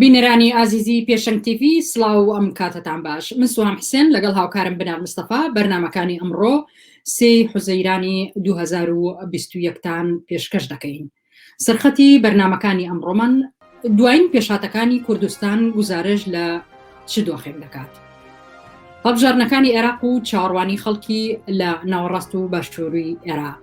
بینەرانی ئازیزی پێشەنگ تیڤی سڵاو و ئەم کاتەتان باش من سوام حسێن لەگەڵ هاوکارم بنار مستەفا بەرنمەکانی ئەمڕۆ سی حوزەیرانی 2021تان پێشکەش دەکەین سەرخەتی بەرنمەکانی ئەمڕۆمان دوایین پێشاتەکانی کوردستان گزارش لە چ دۆخێک دەکات هەڵبژارنەکانی عێراق و چاڕوانی خەڵکی لە ناوەڕاست و باشووری عێراق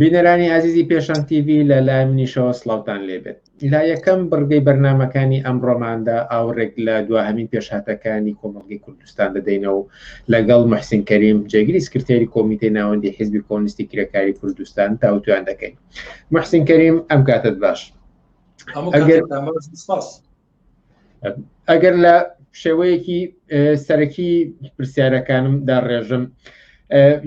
بینەرانی ئازیزی پێشان تیV لە لای منیشەوە سلااوان لێبێت لا یەکەم بڕگەی بەرنمەکانی ئەم ڕۆماندا ئاورێک لە دواهمین پێشهاتەکانی کۆمەڵگەی کوردستان دەدەینە و لەگەڵ محسین کەریم جێگری سکرتێری کۆمیتەی ناوەندی حیزبی کۆنیستی کرێکاری کوردستان تاوتوان دەکەین محسین کەریم ئەم کاتت باش ئەگەر سپاس ئەگەر لە شێوەیەکی سەرەکی پرسیارەکانمدا ڕێژم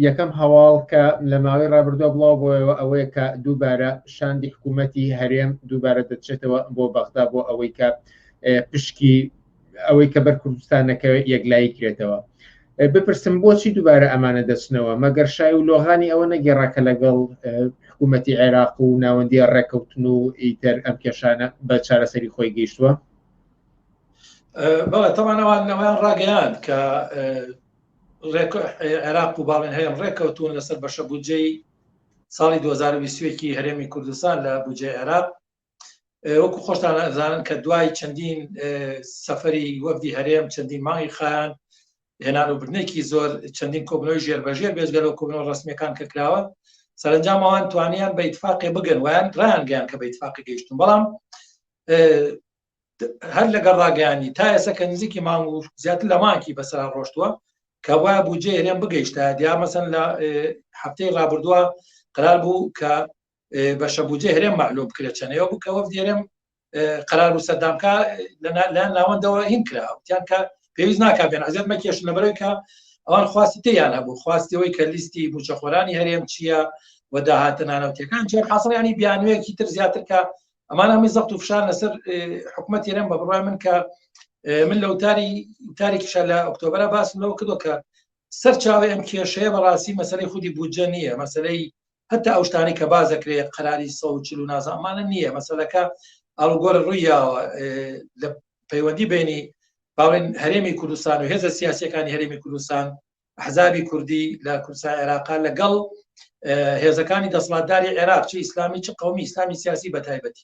یەکەم هەواڵ کە لە ماوەی ڕابردووە بڵاو بۆەوە ئەوەیە کە دووبارە شاندی حکوومەتتی هەرێم دووبارە دەچێتەوە بۆ بەغدا بۆ ئەوەی کە پشکی ئەوەی کە بەر کوردستانەکە یەکلایی کرێتەوە بپرسم بۆچی دووبارە ئەمانە دەچنەوە مەگەر شای و لۆغانی ئەوە نەگەێڕا کە لەگەڵ حکوومەتتی عێراق و ناوەندی ڕێککەوتن و ئیتر ئەم کێشانە بە چارەسەری خۆی گەیشتووە بەڵێ تەمانەوان نەوەیان ڕاگەیان کە عێراق و باڵێن هەیەم ڕێککەوتون لەسەر بەشە بودجەی ساڵی 2020 هەرێمی کوردستان لە بودجێ عێراق وەکو خۆشتان ئەزانن کە دوای چەندین سەفری وەفدی هەرێم چەندین مانگی خان هێنان و برنێکی زۆر چەندین کۆبنەوەی ژێر بەژێر بێژگە لەو کۆبنەوە ڕسمەکان کە کراوە سەرنجام ئەوان توانیان بە اتفاقێ بگەن ویان ڕانگەیان کە بە اتفاقی گەیشتن بەڵام هەر لەگەڵ ڕاگەیانی تا ئێستا کە نزیکی مانگ و زیاتر لە مانکی بەسەرا ڕۆشتووە کە وایە بجێ هێرێن بگەیشتە دیا مەسن لە هەفتەی ڕابردووە قرار بوو کە بەشە بودجێ هەرێم معلوم بکرێت چەنەوە بکە وەفدی هەرێم قرار و سەردامکە لە ناوەندەوە هین کرا وتیان کە پێویست ناکە بێن عزیێت مەکێش لەبەرەوەی کە ئەوان خواستی تیان هەبوو خواستەوەی کە لیستی بچەخۆرانی هەرێم چییە و داهاتە نانەوتەکان جێ حاصلیانی بیانوەیەکی تر زیاتر کە ئەمان هەمی زەخت و فشار لەسەر حکوومەت تێرم بە بڕای من کە من لە وتاری تاریکیشە لە ئۆکتۆبرە باسم لەوە کردو کە سەر چاوی ئەم کێشەیە بەڕاستی مەسلەی خودی بودجە نییە مەسلەی هەتا ئەو شتانەی کە باز دەکرێت قەراری سە و چلو نازانمانە نییە مەسەلەکە ئەڵگۆر ڕوویاوە لە پەیوەندی بینی باڵێن هەرێمی کوردستان و هێزە سیاسەکانی هەرێمی کوردستان حزابی کوردی لە کورسای عێراقا لەگەڵ هێزەکانی دەسڵاتداری عێراق چ ئیسلامی چ قومی ئسلامی سیاسی بە تایبەتی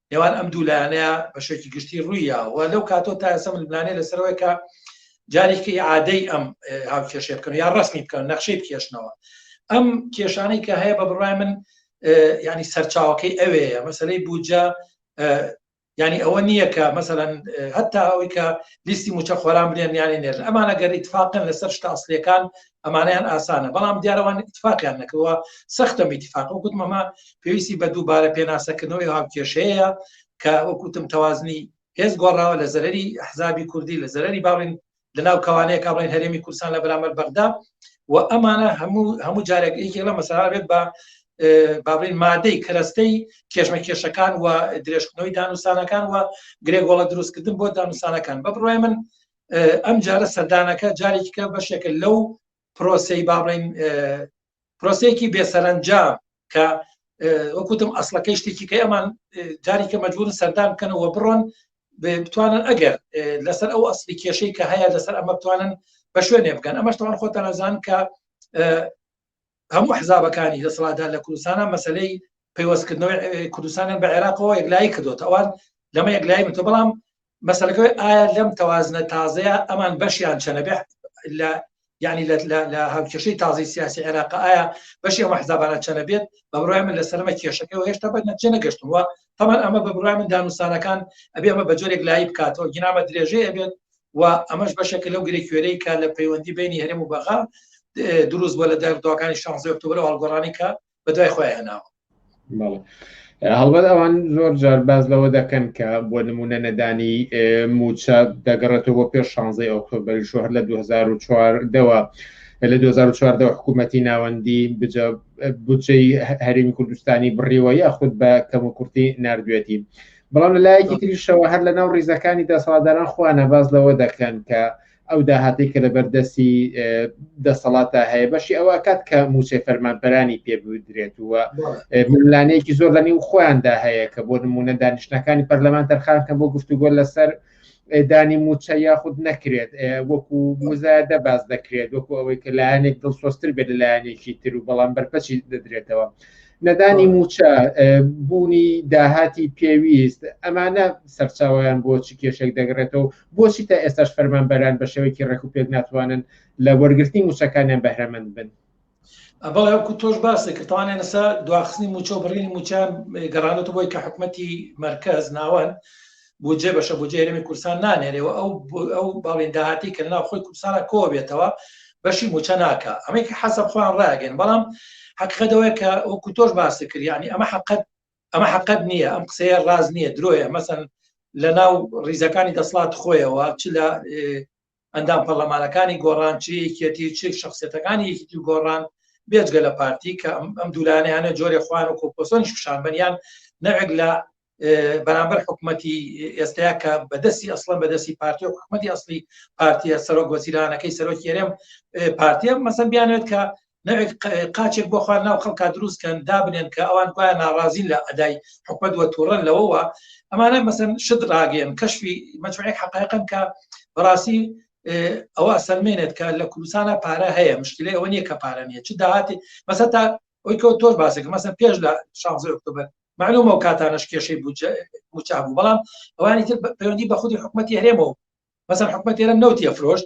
نێوان ئەم دوو لایەنەیە بە شێکی گشتی ڕووی یاوە لەو کاتۆ تا ئێسە ململانێ لەسەرەوەی کە جارێکی عادەی ئەم هاو کێشێ بکەن یا ڕسمی بکەن نەخشەی بکێشنەوە ئەم کێشانەی کە هەیە بە بڕای من ینی سەرچاوەکەی ئەوەیە مەسلەی بوجە ینی ئەوە نییە کە مەسەەن هەتا ئەوەی کە لیستی موچە خۆران بێن یانی نێر ئەمانە گەر ئیتفاقن لەسەر شتاسلەکان ئەمانەیان ئاسانە بەڵام دیارەوان اتفاقیان نەکەوە سەختە میتفاق و گوتمەمە پێویستی بە دووبارە پێناسەکردنەوەی هاوکێشەیە کە وەکوتم تەوازنی هێز گۆڕاوە لە زەرری حزابی کوردی لە زەرری باڵین لەناو کەوانەیە کا بڵێن هەرێمی کورسان لە بەرامەر بەغدا و ئەمانە هەموو هەموو جارێک یەکێک لە مەسەلا بێت بە بابلین مادەی کەرەستەی کێشمە کێشەکان و درێژکردنەوەی دانوسانەکان و گرێگۆڵە دروستکردن بۆ دانوسانەکان بە بڕای من ئەم جارە سەردانەکە جارێککە بەشێکە لەو پرۆسی با بڵین پرۆسێکی بێسەرەنجام کە وەکوتم ئەسلەکەی شتێکی کە ئەمان جاریکە مەجبورن سەردان بکەنەوە بڕۆن بتوانن ئەگەر لەسەر ئەو ئەسلی کێشەی کە هەیە لەسەر ئەمە بتوانن بە شوێنێ بکەن ئەمەشتوان خۆتەنەزان کە هەموو حزابەکانی دەسەڵاتدار لە کوردستانە مەسلەی پەیوەستکردنەوەی کوردستانیان بە عێراقەوە یەکلایی کردوتە ئەوان لەمە یەکلایی من تۆ بەڵام مەسلەکەی ئایا لەم تەوازنە تازەیە ئەمان بەشیان چەنە بێ لە ینی لە هاوکێشەی تازی سیاسی عێراق ئایا بەشی ئەمە حزابانە چەنە بێت بە بڕای من لە سەرمە کێشەکە و هێشتا بە نەچێ نەگەشتووە تەمان ئەمە بە بڕای من دانوستانەکان ئەبێ ئەمە بە جۆرێک لای بکاتەوە گینامە درێژەیە بێت و ئەمەش بەشێکە لەو گرێکوێرەی کە لە پەیوەندی بینی هەرێم و بەغا دروست بۆ لە داردواکانی شانزی ئۆکتۆبر و هەڵگۆڕانی کە بە دوای خۆی هێناوە هەڵبەت ئەوان زۆر جار باز لەوە دەکەن کە بۆ نمونە نەدانی موچە دەگەڕێتەوە بۆ پێش شانزی ئۆکتۆبر شوهر لە 2004 دەوە لە 2014 حکوومەتتی ناوەندی بجەی هەرمی کوردستانی بڕیوە یاخود بە کەم و کورتی نردوێتی بەڵام لە لایەکی تریشەوە هەر لە ناو ڕیزەکانی دەسەڵاتداران خۆیانە باز لەوە دەکەن کە ئەو داهاتی کە لە بەردەستی دەسەڵاتە هەیە بەشی ئەوە کات کە موچێ فەرمانپەرانی پێ بدرێت وە ملانەیەکی زۆر لەنی و خۆیاندا هەیە کە بۆ نمونە دانیشتەکانی پەرلەمان تەرخان کە بۆ گفتوگۆ لەسەر دانی موچە یاخود نەکرێت وەکو مزایدە باز دەکرێت وەکو ئەوەی کە لایەنێک دڵسۆستر بێت لە لایەنێکی تر و بەڵام بەرپەچی دەدرێتەوە نەدانی موچە بوونی داهاتی پێویست ئەمانە سەرچاویان بۆ چ کێشێک دەگرێتەوە بۆچی تا ئێستاش فەرمانبەران بە شێوەیەکی ڕێک و پێک ناتوانن لە وەرگرتنی موچەکانیان بەهرەمەند بن بەڵێ وەکو تۆش باسی کرد تاوانیان لەسەر دواخستنی موچە و بڕینی موچیان گەڕانەوە بۆی کە حکوومەتی مرکز ناوەن بودجێ بەشە بۆ جێرەمی کورسان نانێرەوە ئەو ئەو باڵێن داهاتی کە ناو خۆی کوردستانە کۆ بێتەوە بەشی موچە ناکە ئەمەی کە حەسە خۆیان ڕاگەن بەڵام حەقەدەوەی کە وەکو تۆش باسی کرد ینی ئەمە حقت ئەمە حقت نییە ئەم قسەیە ڕاز نییە درۆیە مەسن لە ناو ڕیزەکانی دەسڵات خۆیەوە چ لە ئەندام پەرلەمانەکانی گۆڕان چ یەکێتی چ شخصێتەکانی یەکێتی و گۆڕان بێجگە لە پارتی کە ئەم دوولانیانە جۆرێ خوان و کۆپۆسۆنیش پیشان بەنیان نەوێک لە بەرامبەر حکوومەتی ئێستایا کە بەدەستی ئەسڵم بەدەستی پارتی و حکوومەتی ئەسلی پارتیە سەرۆک وەزیرانەکەی سەرۆکی هەرێم پارتیە مەسەن بیانێت کە نەوێت قاچێک بۆخوا ناو خەڵکا دروستکەن دابنێن کە ئەوان گوایە ناڕازین لە ئەدای حکومت وە تووڕەن لەوەوە ئەمانە مەسن شت ڕاگەن کەشفی مەچوەێک حقایقن کە بەڕاستی ئەوە ئەسەلمێنێت کە لە کوردستانە پارە هەیە مشکلی ئەوە نییە کە پارە نیە چ داهاتی مەسە تا ئەوی کە تۆش باسێک مەسە پێش لە شانزە ئۆکتۆبەر معلومە و کاتانش کێشەی موچابوو بەڵام ئەوانی تر پەیوەندی بە خودی حکوومەتتی هەرێمەوە مەسەر حکوومەت تێرە نەوتە فرۆشت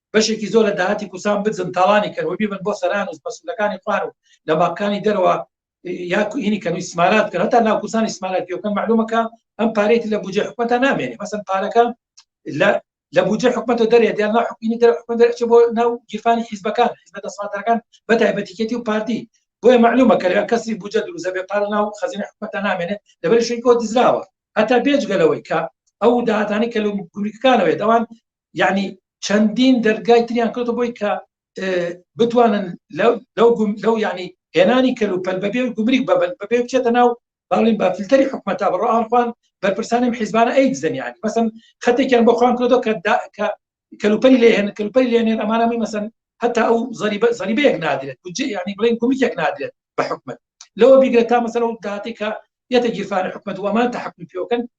بەشێکی زۆر لە داهاتی کوسان بزن تاڵانی کەن وبیبن بۆ سەران و پسولەکانی خوار و لە باقانی دەرەوە یاکو هینی کەن و سمالات کە هەتا ناو کوسانی سمالاتیەکەن معلومەکە ئەم پارێتی لە بجێ حکومەتە نامێنێ مەسن پارەکە لە لە بجێ حکومەتە دەرێت یان حکومی دەر حکومە دەرچ بۆ ناو گیرفانی حیزبەکان حزبە دەسەڵاتەکان بە تایبەتیکێتی و پارتی بۆیە معلومە کە کەسی بجە دروزە بێ پار ناو خەزینە حکومەتە نامێنێت لەبەر شوی کۆ دزراوە هەتا بێجگەلەوەی کە ئەو داهاتانی کە لە گوریکەکانەوەێت ئەوان یعنی چەندین دەرگای تریان کەوتە بۆی کە بتوانن لەو یعنی هێنانی کەل و پەل بەبێ گومریک بەبن بەبێ بچێتە ناو باڵین بە فلتەری حکومەتا بڕۆ ئاخوان بەرپرسانم حیزبانە ئەی دزنیانی مەسم خەتێکیان بۆ خوان کردو کە کەلوپەری لێهێن کەلوپەری لێنێن ئەمانەمی مەسن هەتا ئەو زەریبە زەریبەیەک نادرێت بجێ یعنی بڵێن گومریکێک نادرێت بە حکومت لەوە بیگرێت تا مەسەر و داتێکە یەتە گیرفانە حکومت وەمان تحکم پێوکەن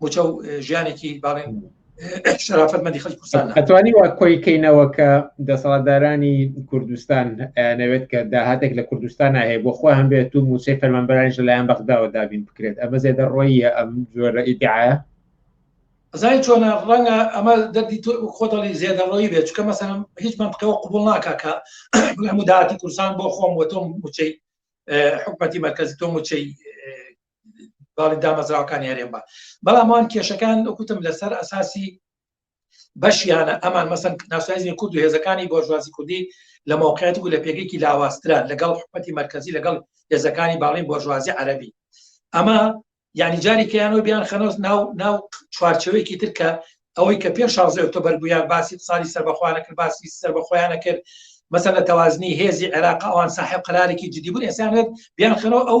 موچە و ژیانێکی باڵێن شرافت مەدی خەڵ کوردستان ئەتوانی وا کۆی کەینەوە کە دەسەڵاتدارانی کوردستان نەوێت کە داهاتێک لە کوردستان هەیە بۆ خۆ هەم بێت و موچەی فەرمانبەرانش لەلایەن بەغداوە دابین بکرێت ئەمە زێدە ڕۆیە ئەم جۆرە ئیدعاە زای چۆنە ڕەنگە ئەمە دەردی تۆ خۆدەڵی زێدەڕۆی بێت چکە مەسەرم هیچ منطقەوە قوبول ناکە کە هەموو داهاتی کورسان بۆ خۆم وە تۆم موچەی حکومەتی مرکزی تۆم موچەی باڵی دامەزراوەکانی هەرێم بە بەڵام ئەوان کێشەکان وکوتم لەسەر ئەساسی بەشیانە ئەمان مەسن ناسایزی کورد و هێزەکانی بۆژوازی کوردی لە موقعیت و لە پێگەیەکی لاواسترا لەگەڵ حکومەتی مرکزی لەگەڵ هێزەکانی باڵین بۆژوازی عەربی ئەمە یعنی جاری کەیانەوە بیان خەنۆز ناو ناو چوارچەوەیەکی تر کە ئەوەی کە پێش شازە ئۆکتۆبەر بوویان باسی ساڵی سەربەخواانە کرد باسی سەر بە خۆیانە کرد مەسەر لە تەوازنی هێزی عێراق ئەوان ساحب قرارێکی جدیبوون ئێسانێت بیان خەرەوە ئەو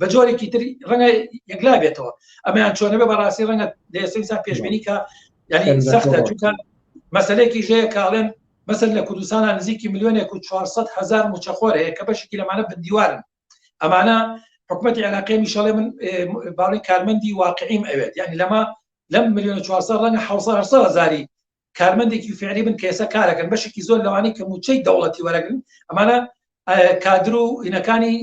بە جۆرێکی تری ڕەنگە یەکلا بێتەوە ئەمەیان چۆنە بە بەڕاستی ڕەنگە دەستا پێشبینی کە یعنی سەختە چونکە مەسلێکی ژەیە کاڵێن مەسەر لە کوردستانە نزیکی میلیۆنێک و 400 هزار موچەخۆر هەیە کە بەشکی لەمانە بندیوارن ئەمانە حکوومەتتی عێراقی میشەڵێ من باڵی کارمەندی واقعیم ئەوێت یعنی لەمە لەم میلیۆن 400 ڕەنگە 600 هزاری کارمەندێکی فعلی بن کە ئێستا کارەکەن بەشێکی زۆر لەوانەی کە موچەی دەوڵەتی وەرەگرن ئەمانە کادر و هینەکانی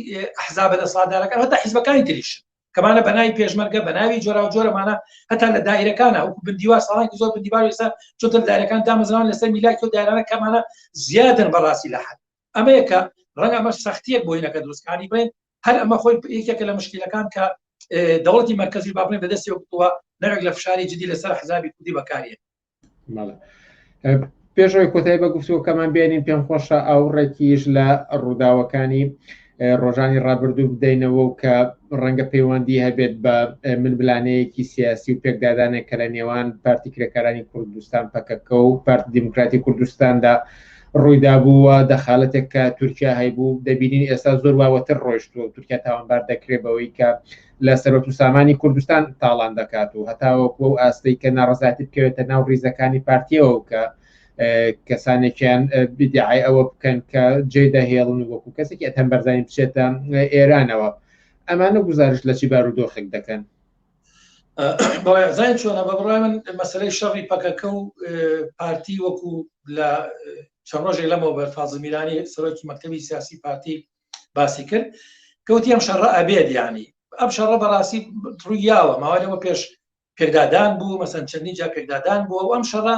حزابە لە سادارەکە هەتا حیزبەکانی تریش کەمانە بەناوی پێشمەرگە بەناوی جۆرا و جۆرەمانە هەتا لە دایرەکانە وەکو بندیوا ساڵانکی زۆر بندیوار ئێستا چۆتە دایرەکان دامەزران لەسەر میلاکی و دایرانە کەمانە زیادن بەڕاستی لە حد ئەمەیەکە ڕەنگە ئەمە سەختیەک بۆینەکە دروستکانی بڵێن هەر ئەمە خۆی یەکێکە لە مشکلەکان کە دەوڵەتی مەرکزی باڵێن بەدەستی وەکتووە نەرێک لە فشاری جدی لەسەر حزابی کوردی بەکارێت پێشەوەی کۆتای بە گفتوەکەمان بێنین پێم خۆشە ئەو ڕێکیش لە ڕووداوەکانی ڕۆژانی ڕابردوو بدەینەوە و کە ڕەنگە پەیوەندی هەبێت بە ململانەیەکی سیاسی و پێکدادانێک کە لە نێوان پارتی کرێکارانی کوردستان پەکەکە و پارتی دیموکراتی کوردستاندا ڕویدابوو و دەخالەتێک کە تورکیا هەیبوو دەبینین ئێستا زۆر واوەتر ڕۆیشتووە تورکیا تاوانبار دەکرێت بەوەی کە لە سەرۆت و سامانی کوردستان تاڵان دەکات و هەتاوەکو و ئاستەی کە ناڕزاتی بکەوێتە ناو ڕیزەکانی پارتیەوە کە کەسانێکیان بدیعای ئەوە بکەن کە جێ دەهێڵن وەکو کەسێکی ئەتەم بەرزانی بچێتە ئێرانەوە ئەمانە گزارش لە چی بارودۆخێک دەکەن بەڵێزای چۆنە بە بڕای من مەسلەی شەڕی پەکەکە و پارتی وەکو لە چەند ڕۆژێک لەمەوە بەر فازمیرانی سەرۆکی مەکتتەبی سیاسی پارتی باسی کرد کەوتی ئەم شەڕە ئەبێت ینی ئەم شەڕە بەڕاستی ڕوویاوە ماوەەوە پێش پێکدادان بوو مەسەن چەندی جا پێکدادان بووە ئەم شەڕە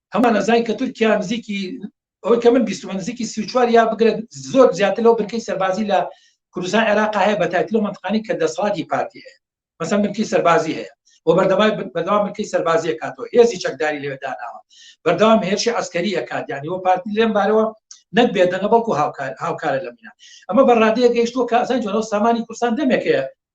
هەمان ئەزای کە تورکیا نزیکی ئەوەی کە من بیستمە نزیکی سیچوار یا بگرێت زۆر زیاتر لەو بنکەی سەربازی لە کوردستان عێراق هەیە بە تایتل و منتقانی کە دەسڵاتی پارتی هەیە مەسە منکی سەربازی هەیە بۆ بەردەوای بەدەوام منکی سەربازیە کاتەوە هێزی چەکداری لەوێداناوە بەردەوام هێرشی ئەسکەری ئەکات یانی وە پارتی لێم بارەوە نەک بێدەنە بەڵکو هاوکار هاوکارە لە مینا ئەمە بەڕادەیە گەیشتووە کە ئەزان جۆرە سامانی کوردستان دەمێکەیە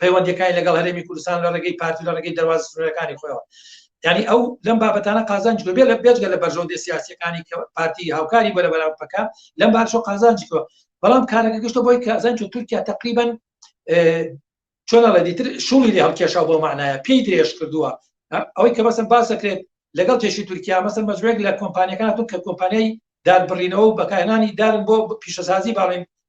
پەیوەندەکانی لەگەڵ هەرێمی کوردستان لە ڕێگەی پارتی لە ڕێگەی دەواز سنوورەکانی خۆیەوە ینی ئەو لەم بابەتانە قازانج بێ لە بێجگە لە بەرژەوندە سیاسەکانی کە پارتی هاوکاری بەرە بەراپەکە لەم باشۆ قازانجکەوە بەڵام کارەکە گشتە بۆی کازان چ تورکیا تقریبن چۆنڵە دیتر شوڵی لە هەڵکێشا بۆ معناە پێی درێژ کردووە ئەوەی کە بەسم باس دەکرێت لەگەڵ تێشی تورکیا مەسەر مەجوێک لە کۆمپانیەکان تون کە کۆمپانیای دار بڕینەوە و بەکارهێنانی دارن بۆ پیشەسازی باڵین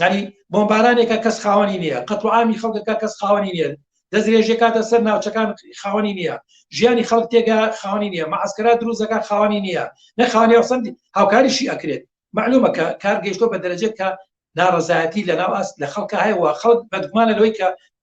داری بۆمبارانێکە کەس خاوەنی نییە قەت و عامی خەڵکەکە کەس خاوەنی نیە دەستێژێ کاتە سەر ناوچەکان خاوەنی نییە ژیانی خەڵک تێگە خاوەنی نییە مەعسکرا دروزەکە خاوەنی نییە نەخوانێ سند هاوکاریشی ئەکرێت معلومە کە کار گەشتۆ بە دەرەجێت کە ناڕزایەتی لە ناو ئاست لە خەڵکە هەیەوە خەڵک بەدگومانە لەوەی کە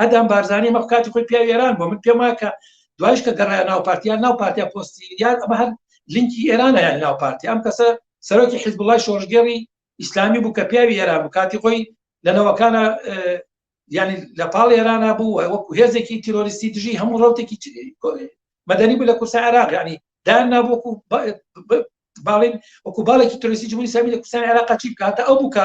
ئەدام بارزانانی مەخ کاتی خۆی پیاوی ئێران بۆ من پێما کە دوایش کە گەڕای ناو پارتیان ناو پارتیا پۆستی یان ئەمە هەر لینکی ئێرانە یان ناو پارتی ئەم کەسە سەرۆکی حزبڵای شۆژگەری ئیسلامی بوو کە پیاوی ئێران بوو کاتی خۆی لەنەوەکانە ینی لە پاڵ ئێرانە بوو وەکو هێزێکی تیرۆریستی دژی هەموو ڕوتێکی مەدەنی بوو لە کورسە عراق ینی دان نابووکو باڵین وەکو باڵێکی ترسی جمهوری سامی لە کوردستان عێراق چی بکاتە ئەو بووکە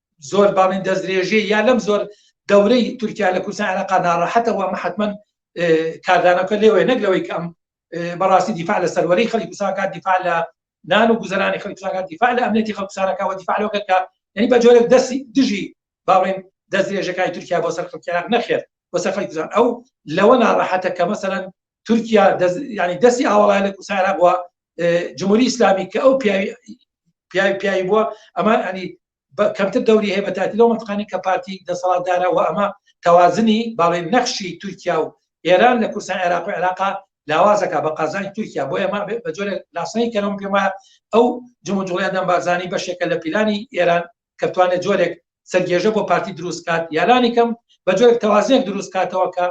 زۆر باڵین دەستدرێژێ یا لەم زۆر دەورەی تورکیا لە کوردستان عێراق ناڕەحەتە وە حتمما کاردانەکە لێوەیە نەک لەوەی کەم بەڕاستی دیفاع لە سەروەری خەڵی کوردستانکە دیفاع لە نان و گوزەرانی خەڵی کوردستانکە دیفاع لە ئەمنێتی خەڵ کوردستانەکە وە دیفاع لەوە کە یعنی بە جۆرێک دەستی دژی باڵێن دەستێژەکانی تورکیا بۆ سەر خەڵکیان نەخێت بۆ سەر خەڵی کوردستان ئەو لەوە ناڕەحەتە کە مەسەرەن تورکیا ینی دەستی ئاوەڵای لە کوردستان عێراق وە جمهوری ئیسلامی کە ئەو پیاوی پیاوی پیاوی بووە ئەمان ئەنی کەمتر دەوری هەیە بەتاتی لەو منتقانی کە پارتی دەسەڵاتدارەوە ئەمە تەوازنی باڵێ نەخشی تورکیا و ئێران لە کورسان عێراق و عێراقا لاوازەکە بە قازانی تورکیا بۆ ئێمە بە جۆرە لاسنەی کەەوەم پێما ئەو جموجوڵیان دەم بارزانانی بەشێکە لە پیلانی ئێران کەتوانێت جۆرێک سەرگێژە بۆ پارتی دروستکات یالانی کەم بە جۆرێک تەوازێک دروستکاتەوە کە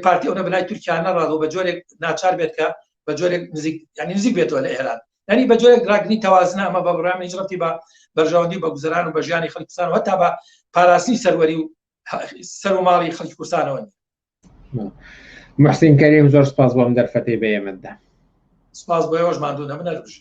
پارتی ئەو نەبنای تورکیا نەڕاز و بە جۆرێک ناچار بێت کە بە جۆرێک نزیک ینی نزیک بێتەوە لە ئێران ینی بە جۆرێک ڕاگنی تەوازنە ئەمە بە بڕام هیچ ڕەتی بە بەرژەوەندی بە گوزران و بە ژیانی خەڵکستان و هەتا بە پاراستنی سەروەری و سەر و ماڵی خەڵکی کوردستانەوە محسین کەریم زۆر سپاس بۆم دەرفەتی بە ئێمەدا سپاس بۆ ئێوەش مادوو نەبنەربژی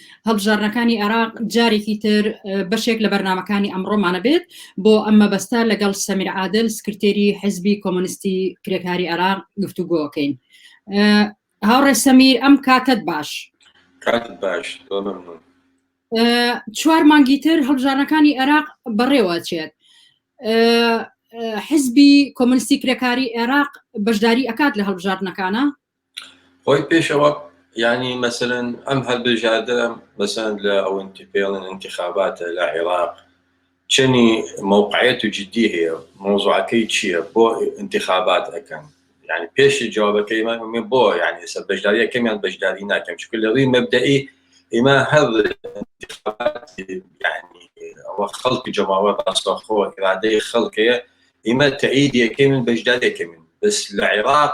هەڵبژاردنەکانی عێراق جارێکی تر بەشێک لە بەرنمەکانی ئەمڕۆمانە بێت بۆ ئەم مەبەستا لەگەڵ سەمیر عادل سکرتێری حزبی کۆمۆنیستی کرێکاری عێراق گفتوگۆکەین هاوڕێ سەمیر ئەم کاتت باش کات باش چوار مانگی تر هەڵبژارەکانی عێراق بەڕێوە چێت حزبی کۆمنستی کرێکاری عێراق بەشداری ئەکات لە هەڵبژاردنەکانە خۆی پێشەوە ینی مەسەرەن ئەم هەلبژاردە بەسەند لە ئەوەن پێڵن انتخاباتە لە عێراق چنی مووقعەت و جددی هەیە مۆزوعەکەی چییە بۆ انتخابات ئەەکەن ینی پێشی جوابەکەی من من بۆ ینی ئێستا بەشداریە کەمیان بەشداری ناکەم چکە لە ڕووی مەبدەئی ئیمە هەر ئەوە خەڵک جەماوە ڕاستەخۆ ئرادەی خەڵکەیە ئیمە تەعیدیەکەی من بەشدارەکەمین بەس لە عێراق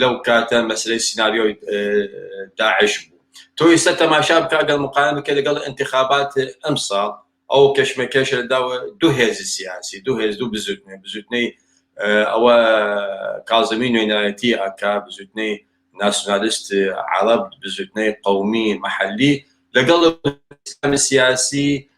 لەو کاتە مەسەلەی سیناریۆی داعش بوو تۆ ئێستا تەماشا بکە گەڵ مقایم کە لەگەڵ انتخابات ئەمساڵ ئەو کەشمەکەش داوە دوو هێز سیاسی دوو هێز دوو بزوتنێ بزوتنەی ئەوە کازمی نوێنایەتی ئەکا بزوتنەی ناسیۆنالیست عرب بزوتنەی قومی محلی لەگەڵ سیاسی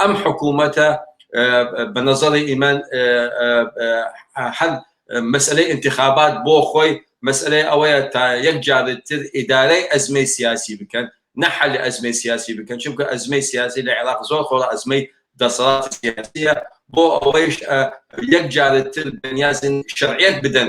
ئەم حکوومەتە بە نەزەڕی ئیمان هەر مەسلەی انتخابات بۆ خۆی مەسلەی ئەوەیە تا یەک جارتر ئیدارەی ئەزمەی سیاسی بکەن نەحلی ئەزمەی سیاسی بکەن چونکە ئەزمەی سیاسی لە عێراق زۆر خۆڵ ئەزمەی دەسەڵات سیاسیە بۆ ئەوەیش یەک جارتر بەنیازن شەرعیت بدەن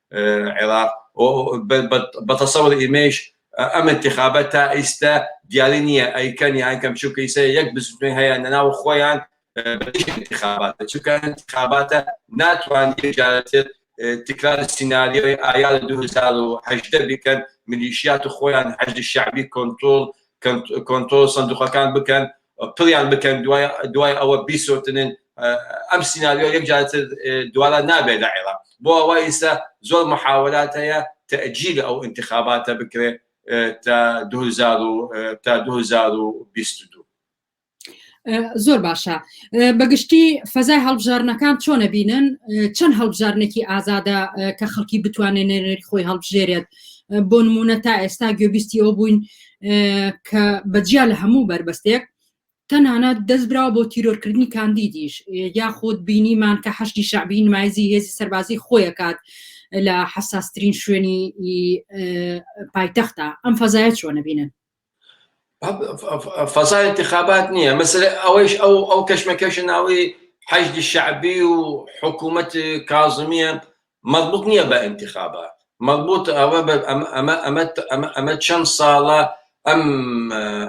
عێراق بەتەسەوەر ئیمەیش ئەم انتخابە تا ئیستە دیاری نییە ئەیکەن یان کەم چووکە ئیسە یەک بزوتنەوەی هەیە نەناو خۆیان انتخاباتە چووکە انتخاباتە ناتوان یەکجارەتر تکرار سیناریۆی ئایار 2018 بکەن ملیشیات و خۆیان حەشد شەعبی کۆنترۆڵ کۆنترۆڵ سندوقەکان بکەن پڕیان بکەن دوای ئەوە بیسوتنن ئەم سیناریۆ یەک جارتر دوارە نابێت لە عێراق بۆ ئەوە ئیستا زۆر محاولات هەیە تەجیل ئەو انتخاباتە بکرێت تا 2022 زۆر باشە بەگشتی فەزای هەڵبژارنەکان چۆنە بینن چەند هەڵبژارنێکی ئازادە کە خەڵکی بتوانێت نێنەری خۆی هەڵبژێرێت بۆ نمونە تا ئێستا گوێبیستی ئەو بووین کە بەجیا لە هەموو بەربەستێک تەنانەت دەست برا بۆ تیرۆرکردنی کاندیدیش یاخود بینیمان کە حەشتی شعبی نمایزی هێزی سەربازی خۆیەکات لە حساسترین شوێنی پایتەختە ئەم فەزایە چۆنە بینن فەزا انتخابات نییە مەسەر ئەوەیش ئەو ئەو کەشمەکەش ناوی حەجدی شعبی و حکوومەت کازمیە مەزبوط نیە بە ئینتیخابات مەزبوط ئەوە بە ئەمە ئەمە ئەمە ئەمە ئەمە چەن ساڵە ئەم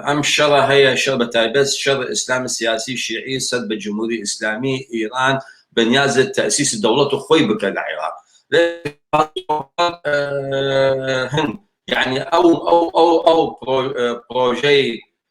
ئەم شەڕە هەیە شەڕ بە تایبەت شەڕ ئیسلام سیاسی شیعی سەد بە جموری ئیسلامی ئیران بە نیازە تەئسیس دەوڵەت خۆی بکە لە عیراق هەن یعنی ئەو ئەو ئەو ئەو پڕۆژەی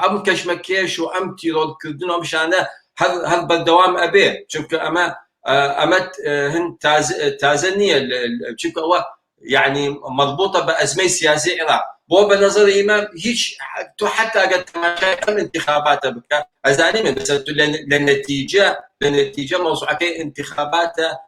هەم کەشمەکێش و ئەم تیرۆر کردن و ئەم شانە هەر هەر بەردەوام ئەبێ چونکە ئەمە ئەمە هەند تازە نییە چونکە ئەوە یعنی مەضبوطە بە ئەزمەی سیاسی عێراق بۆ بە نظر ئیمە هیچ تۆ حتا گە تەماشای ئەم انتخاباتە بکە ئەزانی من بەسەر لە نەتیجە لە نەتیجە مەوزعەکەی انتخاباتە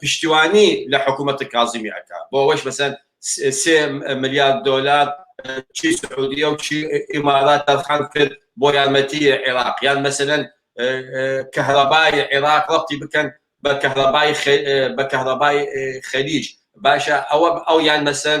پشتیوانی لە حکوومەتی کازمی ئەکا بۆ ئەوەش مەسەن سێ ملیار دۆلار چی سعودیە و چی ئیمارات تەرخان کرد بۆ یارمەتی عێراق یان مەسەن کەهرەبای عێراق ڕەتی بکەن بە کەهرەبای بە کەهرەبای خەلیج باشە ئەوە ئەو یان مەسەن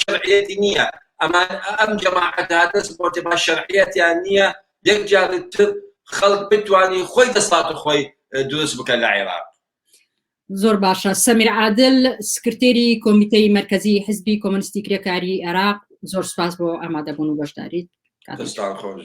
شەرعیەتی نییە ئەمان ئەم جەماعەتە دەست بۆتێ با شەرعیەتیان نییە یەک جارتر خەڵک بتانی خۆی دەسات و خۆی دروست بکە لە عێراق زۆر باشە سەمیر عادل سکرتێری کۆمیتەی مرکزی حزبی کۆمەنستی کرێکاری عێراق زۆر سپاس بۆ ئامادەبوون و بەشداریت کاتستان خۆش.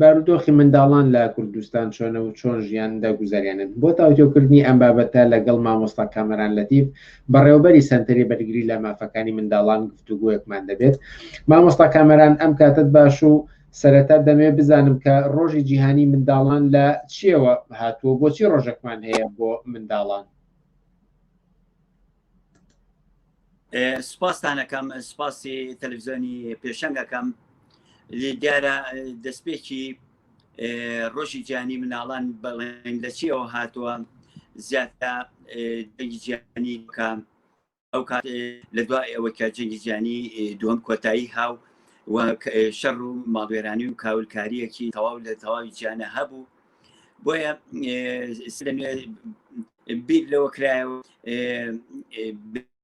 بارودۆخی منداڵان لە کوردستان چۆنە و چۆن ژیان دەگوزەرێنن بۆ تاوتۆکردنی ئەم بابەتە لەگەڵ مامۆستا کامەران لەتیف بەڕێوبەری سەنتەری بەرگری لە مافەکانی منداڵان گفتوگویەکمان دەبێت مامۆستا کامەران ئەم کاتت باش و سەرەتا دەمێ بزانم کە ڕۆژی جیهانی منداڵان لە چیەوە هاتووە بۆچی ڕۆژەکمان هەیە بۆ منداڵان سپاستانەکەم سپاسی تەلویزیۆنی پێشەنگەکەم لێ دیارە دەستپێکی ڕۆژی جیانی مناڵان بەڵێن لە چیەوە هاتووە زیاتە دەنگی جیانی بکەم ئەو کات لە دوای ئەوە کە جەنگی جیانی دووەم کۆتایی هاو شەڕ و ماڵوێرانی و کاولکاریەکی تەواو لە تەواوی جیانە هەبوو بۆیە بیر لەوە کرایەوە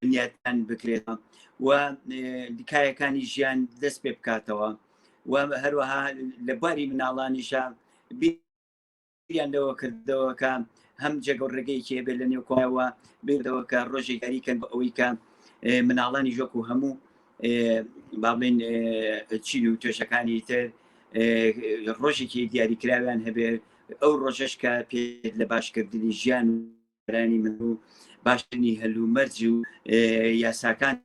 بنیاتان بکرێتەوە و دیکایەکانی ژیان دەست پێ بکاتەوە و هەروەها لە باری مناڵانیشە بیریان لەوە کردەوە کە هەم جێگە ڕێگەیەکی هەبێت لە نێوکۆەوە بیردەوە کە ڕۆژێکاریکەن بە ئەوەی کە مناڵانی ژۆک و هەموو با بڵێن چین و توێشەکانی تر ڕۆژێکی دیاریکراویان هەبێت ئەو ڕۆژەش کە پێ لە باشکردنی ژیان و رانی من و باشترنی هەل و مەرج و یاساکان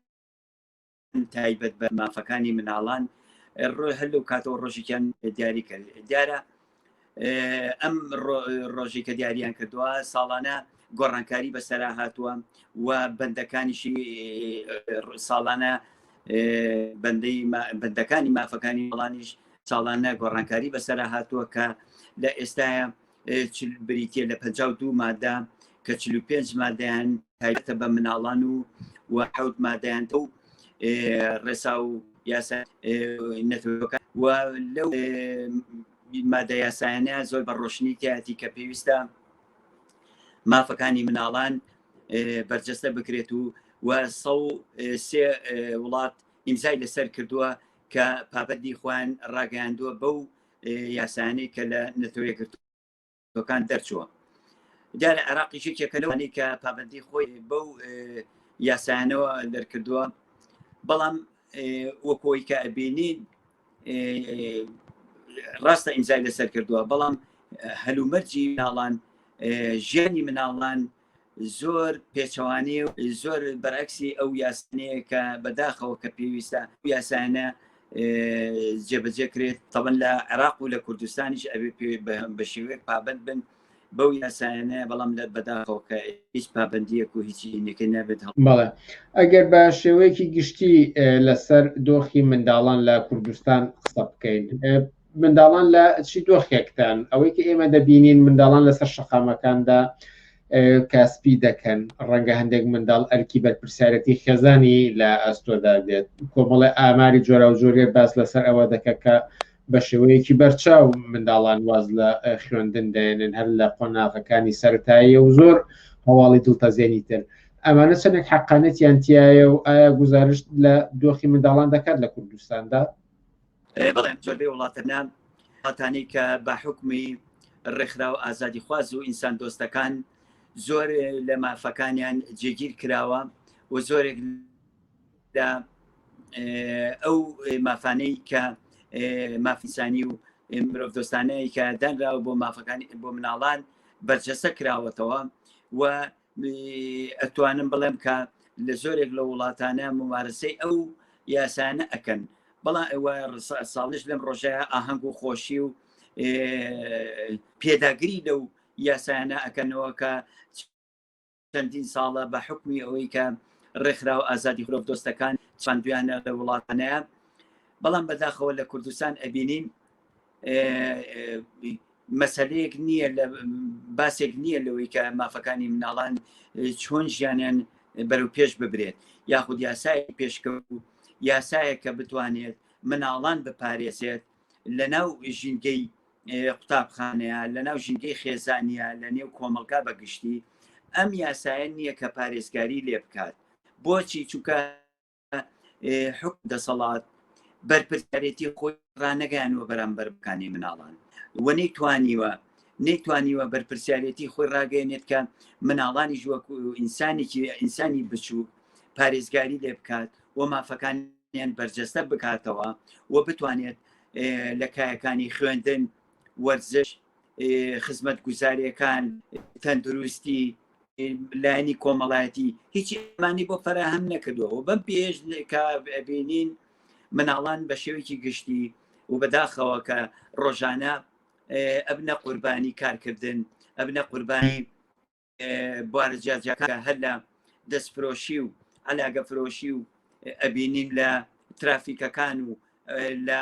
تایبەت بە مافەکانی مناڵان هەل و کاتەوە ڕۆژێکیان دیاری کرد دیارە ئەم ڕۆژی کە دیاریان کردووە ساڵانە گۆڕانکاری بەسەرا هاتووە و بەندەکانیشی ساڵانە بەندەی بەندەکانی مافەکانی وڵانیش ساڵانە گۆڕانکاری بەسەرا هاتووە کە لە ئێستاە بریتە لە 52 مادە کە 45 مادەیان تایبەتە بە مناڵان و و حوت مادەیان و ڕێسا و یاسا نەتەوەکە و لەو مادە یاسایانە زۆر بە ڕۆشنی تیاتی کە پێویستە مافەکانی مناڵان بەرجەستە بکرێت و و سە سێ وڵات ئیمزای لەسەر کردووە کە پابەتی خوان ڕاگەیاندووە بەو یاسانەی کە لە نەتەوەی گرتو کان دەرچووە دیارە عێراقی یەکێکە لەوانی کە پابندی خۆی بەو یاسایانەوە دەرکردووە بەڵام وەکۆی کە ئەبینین ڕاستە ئیمزای لەسەر کردووە بەڵام هەلومەرجی ناڵان ژیانی مناڵان زۆر پێچەوانەیە و زۆر بەرەکسی ئەو یاسنەیە کە بەداخەوە کە پێویستە یاسانە جێبەجێ کرێت تەبەن لە عێراق و لە کوردستانیش ئەوێ بە شێوەیەک پابند بن بەو یاسایانە بەڵام لە بەداخەوە کە هیچ پابندیەک و هیچی نەکە نابێت بەڵێ ئەگەر بە شێوەیەکی گشتی لەسەر دۆخی منداڵان لە کوردستان قسە بکەین منداڵان لە چی دۆخێکتان ئەوەی کە ئێمە دەبینین منداڵان لەسەر شەقامەکاندا کاسپی دەکەن ڕەنگە هەندێک منداڵ ئەرکی بەرپرسیارەتی خێزانی لە ئەستۆدا دێت کۆمەڵی ئاماری جۆرا و جۆرێ باس لەسەر ئەوە دەکە کە بە شێوەیەکی بەرچاو منداڵان واز لە خوێندن دێنن هەر لە قۆناغەکانی سەرتاییە و زۆر هەواڵی دڵتەزێنی تر ئەمانە چەندێک حقانێتیان تایە و ئایا گزارشت لە دۆخی منداڵان دەکات لە کوردستاندا بڵێن زۆربەی وڵاتەنا هاتانەی کە بە حکومی ڕێکخرا و ئازادی خواز و ئینسان دۆستەکان زۆر لە مافەکانیان جێگیر کراوە و زۆرێک لە ئەو مافانەی کە مافیسانی و مرۆڤ دۆستانەیە کە دانراوە بۆ مافەکان بۆ مناڵان بەرجەسە کراوەتەوە و ئەتوانم بڵێم کە لە زۆرێک لە وڵاتانە ممارەسەی ئەو یاسانە ئەکەن بەڵام ئەوە ساڵش لەم ڕۆژە ئاهەنگ و خۆشی و پێداگری لەو یاسایانە ئەکەنەوە کە چەندین ساڵە بە حکمی ئەوەی کە ڕێکخرا و ئازادی خرۆڤ دۆستەکان چاندویانە لە وڵاتانەیە بەڵام بەداخەوە لە کوردستان ئەبینین مەسلەیەک نییە لە باسێک نییە لەوەی کە مافەکانی مناڵان چۆن ژیانیان بەرەو پێش ببرێت یاخود یاسای پێشکە و یاسایە کە بتوانێت مناڵان بپارێزێت لە ناو ژینگەی قوتابخانەیە لە ناو ژینگەی خێزانە لە نێو کۆمەلگا بەگشتی ئەم یاسایە نییە کە پارێزگاری لێ بکات بۆچی چووکە حکم دەسەڵات بەرپرسیارێتی خۆی ڕانەگەیانەوە بەرامبەر بکانی مناڵان و نەیتوانیوە نەیتوانیوە بەرپرسیارەتی خۆی ڕاگەێنێت کە مناڵانی ژوەکو ئینسانێکی ئینسانی بچوو پارێزگاری لێ بکات و مافەکانیان بەرجەستە بکاتەوە و بتوانێت لە کایەکانی خوێندن وەرزش خزمەت گوزارەکان تەندروستی لایەنی کۆمەڵایەتی هیچی ئەمانی بۆ فەراهەم نەکردەوە و بەم پێش بینین مناڵان بە شێوەیەکی گشتی و بەداخەوە کە ڕۆژانە ئەبنە قوربانی کارکردن ئەبنە قوربانی بوارە جیاجیاکان هەر لە دەستفرۆشی و علاگە فرۆشی و ئەبینین لە ترافیکەکان و لە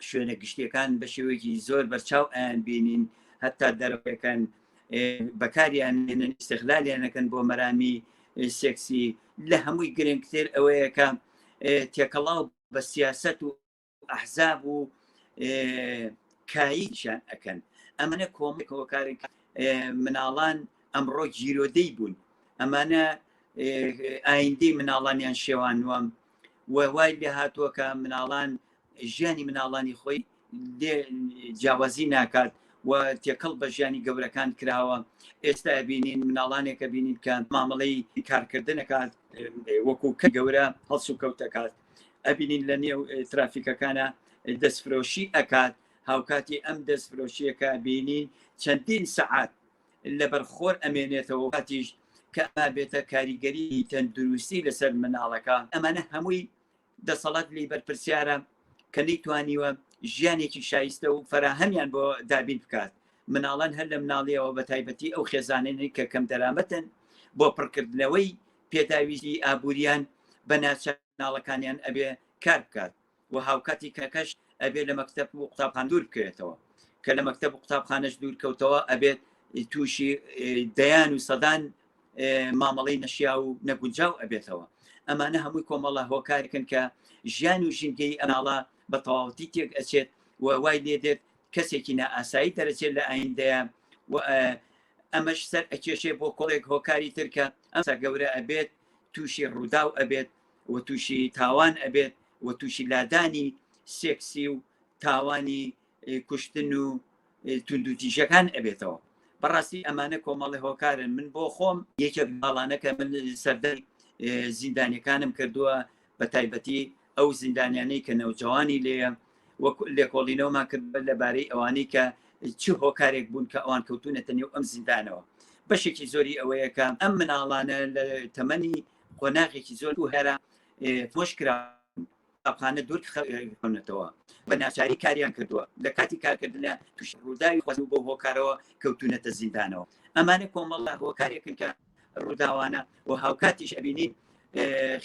شوێنە گشتیەکان بە شێوەیەکی زۆر بەرچاو ئەیان بینین هەتا دەرەکەن بەکاریان نێنن استغلالیانەکەن بۆ مەرامی سێکسی لە هەمووی گرنگتر ئەوەیەکە تێکەڵاو بە سیاست و ئەحزاب و کاییشان ئەکەن ئەمەە کۆمەکەوە کارێک مناڵان ئەمڕۆ گیرۆدەی بوون ئەمانە ئایندەی مناڵانیان شێوان وام و وای لێ هاتووە کە مناڵان ژیانی مناڵانی خۆی جیاوازی ناکات و تێکەڵ بە ژیانی گەورەکان کراوە ئێستا بینین مناڵانێکە بینین کە مامەڵەی کارکردنەکات وەکو کە گەورە هەڵسو کەوتەکات ئەبینین لە نێو ترافیکەکانە دەستفرۆشی ئەکات هاوکاتی ئەم دەستفرۆشیەکە بینین چەندین سەعات لە بەرخۆر ئەمێنێتەوە هاتیش کە بێتە کاریگەری تەندروستی لەسەر مناڵەکە ئەمانە هەمووی دەسەڵات لی بەرپرسیارە کە نەیتوانیوە ژیانێکی شایستە و فراهەمیان بۆ دابین بکات مناڵان هەر لە مناڵیەوە بە تایبەتی ئەو خێزانێنی کە کەم دەرامەتن بۆ پڕکردنەوەی پێداویستی ئابوورییان بە ناچەناڵەکانیان ئەبێ کار بکات و هاوکاتی کەکەش ئەبێ لە مەکتەب و قوتابخان دوور بکەوێتەوە کە لە مەکتەب و قوتابخانەش دوور کەوتەوە ئەبێت تووشی دەیان و سەدان مامەڵەی نەشیا و نەگونجاو ئەبێتەوە ئەمانە هەمووی کۆمەڵە هۆکارکن کە ژیان و ژینگەی ئەناڵە بە تەواوەتی تێک ئەچێت و وای لێ دێت کەسێکی نائاسایی دەرەچێت لە ئایندەیە و ئەمەش سەر ئەکێشێ بۆ کۆڵێک هۆکاری ترکە ئەمسا گەورە ئەبێت تووشی ڕووداو ئەبێت و تووشی تاوان ئەبێت و تووشی لادانی سێکسی و تاوانی کوشتن و توندوتیژەکان ئەبێتەوە بەڕاستی ئەمانە کۆمەڵی هۆکارن من بۆ خۆم یەکێک باڵانەکە من سەردەی زیندانەکانم کردووە بە تایبەتی ئەو زیندانیانەی کە نەوجەوانی لێیە وەک لێکۆڵینەوەمان کرد بە لەبارەی ئەوانەی کە چ هۆکارێک بوون کە ئەوان کەوتونەتە نێو ئەم زیندانەوە بەشێکی زۆری ئەوەیەکە ئەم مناڵانە لە تەمەنی قۆناغێکی زۆر و هەرە تۆش کرا ئەخانە دوور خەونەتەوە بە ناچاری کاریان کردووە لە کاتی کارکردنە توش ڕووداوی خۆز بۆ هۆکارەوە کەوتونەتە زیندانەوە ئەمانە کۆمەڵە هۆکارێکن کە ڕووداوانە و هاوکاتیش ئەبینین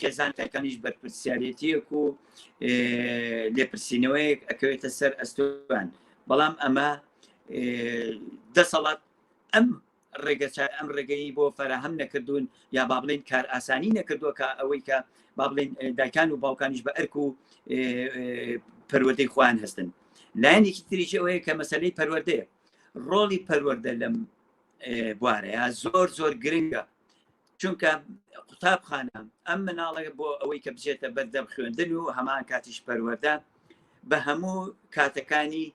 خێزان تاکانیش بەرپرسیارەتیەک و لێپرسینەوەیەک ئەکەوێتە سەر ئەستوان بەڵام ئەمە دەسەڵات ئەم ڕێگە ئەم ڕێگەی بۆ فەرەهەم نەکردوون یا با بڵێن کار ئاسانی نەکردووە کە ئەوەی کە با بڵێن دایکان و باوکانیش بە ئەرک و پەروەدەی خۆیان هەستن لایەنێکی تریژەوەیە کە مەسلەی پەروەردەیە ڕۆڵی پەروەەردە لەم بوارەیە زۆر زۆر گرنگە چونکە قوتابخانە ئەم مناڵەکە بۆ ئەوەی کە بچێتە بەردەم خوێندن و هەمان کاتیش پەروەەردە بە هەموو کاتەکانی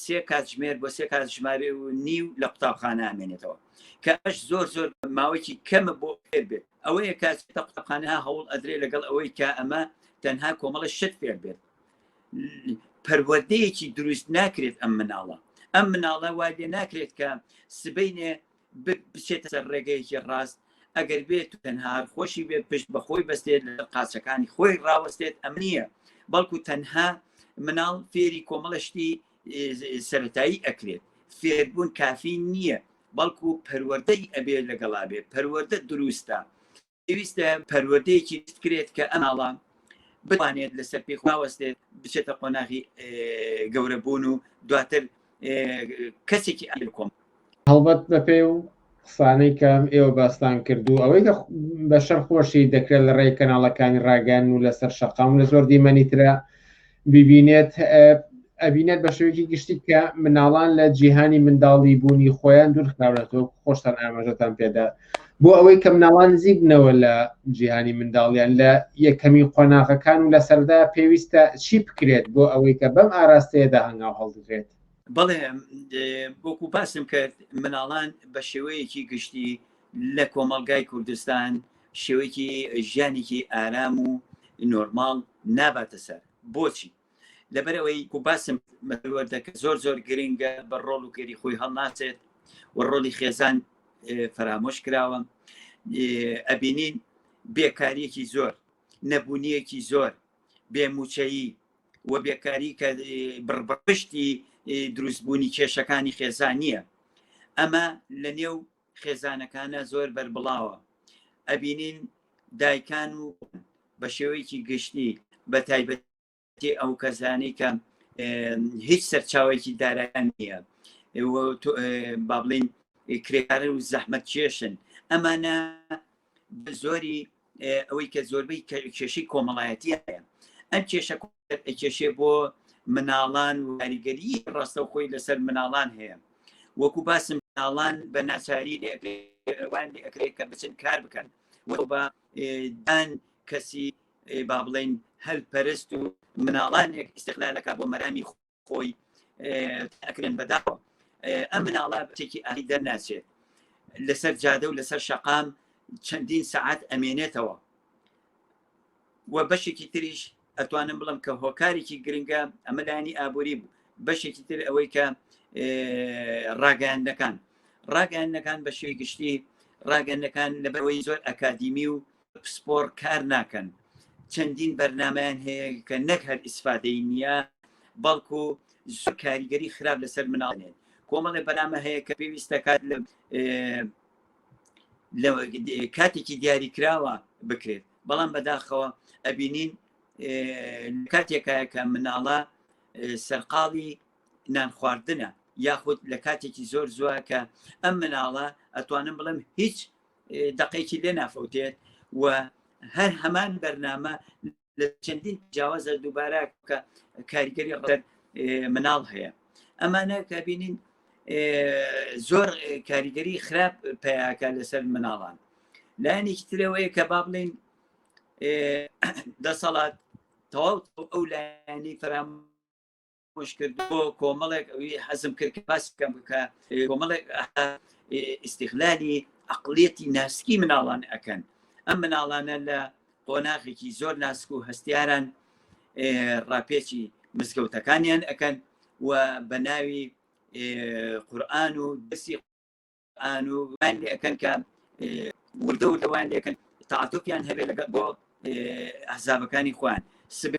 سێ کاتژمێر بۆ سێ کات ژمارە و نیو لە قوتابخانە ئەمێنێتەوە کە ئەش زۆر زۆر ماوەیەکی کەمە بۆ پێر بێت ئەوەیە کاتێتە قوتابخانە هەوڵ ئەدرێ لەگەڵ ئەوەی کە ئەمە تەنها کۆمەڵە شت پێر بێت پەروەردەیەکی دروست ناکرێت ئەم مناڵە ئەم مناڵە وا لێ ناکرێت کە سبینێ بچێتە سەر ڕێگەیەکی ڕاست ئەگەر بێت تەنهار خۆشی بێ پشت بەخۆی بەستێت لە قاچەکانی خۆی ڕاوەستێت ئەم نییە بەڵکو تەنها مناڵ فێری کۆمەڵشتی سەتایی ئەکرێت فێربوون کافی نییە بەڵکو پەروەەردەی ئەبێ لەگەڵا بێ پەروەەردە دروستە پێویستە پەروەردەیەکی بکرێت کە ئەماڵە بتوانێت لەسەر پێ خواوەستێت بچێتە قۆناغی گەورەبوون و دواتر کەسێکی ئەل کۆم هەڵبەت بەپێ و قسانەی کەم ئێوە باستان کردو ئەوەی کە بەشەر خۆشی دەکرێت لە ڕێی کەناڵەکانی ڕاگەن و لەسەر شەقام لە زۆر دیمەنی ترە ببینێت ئەبینێت بە شێوەیەکی گشتی کە مناڵان لە جیهانی منداڵی بوونی خۆیان دوورخراونەتەوە خۆشتان ئاماژەتان پێدا بۆ ئەوەی کە مناڵان نزیک بنەوە لە جیهانی منداڵیان لە یەکەمی قۆناغەکان و لە سەردا پێویستە چی بکرێت بۆ ئەوەی کە بەم ئاراستەیەدا هەنگاو هەڵدرێت بەڵێ بۆکو باسم کرد مناڵان بە شێوەیەکی گشتی لە کۆمەلگای کوردستان شێوەیەکی ژیانێکی ئارام و نۆرماڵ ناباتە سەر بۆچی لەبەرەوەی و باسم مەوەردەکە زۆر زۆر گرنگە بە ڕۆڵ و کەری خۆی هەڵناسێت و ڕۆلی خێزان فەرامۆش کراوە ئەبینین بێکاریەکی زۆر نەبوونیەکی زۆر بێموچەیی و بێکاری کە بڕبڕشتی دروستبوونی کێشەکانی خێزانیە ئەمە لە نێو خێزانەکانە زۆر بەربڵاوە ئەبینین دایکان و بە شێوەیەکی گشتی بە تایبەتی ئەو کەزانی کە هیچ سەرچاوێکی دارایان نییە با بڵین کرێکارن و زەحمەت کێشن ئەمانە زۆری ئەوەی کە زۆربەی کێشەی کۆمەڵایەتی هەیە ئەم کێشە کێشێ بۆ مناڵان و کاریگەری ڕاستە خۆی لەسەر مناڵان هەیە وەکو باسم مناڵان بە ناچاری لێوان ئەکرێت کە بچن کار بکەن بە دان کەسی با بڵین هەلپەرست و مناڵانێک استقلالەکە بۆ مەرامی خۆی ئەکرێن بەداوە ئەم مناڵە بچێکی ئاری دەرناچێت لەسەر جادە و لەسەر شەقام چەندین سعات ئەمێنێتەوە و بەشێکی تریش ئەتوانم بڵم کە هۆکارێکی گرنگە ئەمە لایانی ئابووری بوو بەشێکی تر ئەوەی کە ڕاگەاندەکان ڕاگەاندەکان بە شێ گشتی ڕاگەندەکان لەبەرەوەی زۆر ئەکادیمی و پسپۆڕ کار ناکەن چەندین بەرنمەیان هەیە کە نەک هەر ئیسفادەی نییە بەڵکو زۆر کاریگەری خراپ لەسەر مناڵێن کۆمەڵێ بەنامە هەیە کە پێویستە کات لە لە کاتێکی دیاری کراوە بکرێت بەڵام بەداخەوە ئەبینین کاتێکایە کە مناڵە سەرقاڵی نان خواردنە یاخود لە کاتێکی زۆر زووە کە ئەم مناڵە ئەتوانم بڵم هیچ دەقێکی لێ نافەوتێت و هەر هەمان بەرنامە لە چەندین جیاوازە دووبارە کە کاریگەری ڕەت مناڵ هەیە ئەمانە کە بینین زۆر کاریگەری خراپ پیاکە لەسەر مناڵان لایەنێکی ترەوەیە کە با بڵین دەسەڵات تەواو ئەو لایەنی فرام پوش کردو کۆمەڵێک ئەوی حەزم کرد کە باس بکەم بکە کۆمەڵێک ئیسیغلالی عقلێتی ناسکی مناڵان ئەەکەن ئەم مناڵانە لە قۆناغێکی زۆر ناسک و هەستیاران ڕاپێچی مزگەوتەکانیان ئەەکەن و بە ناوی قورآن و دەسی ئانو وان لێکەن کە وردە وردە وان لێکەن تاعاتۆپیان هەبێ لەگە بۆ ئەحزابەکانی خوان سب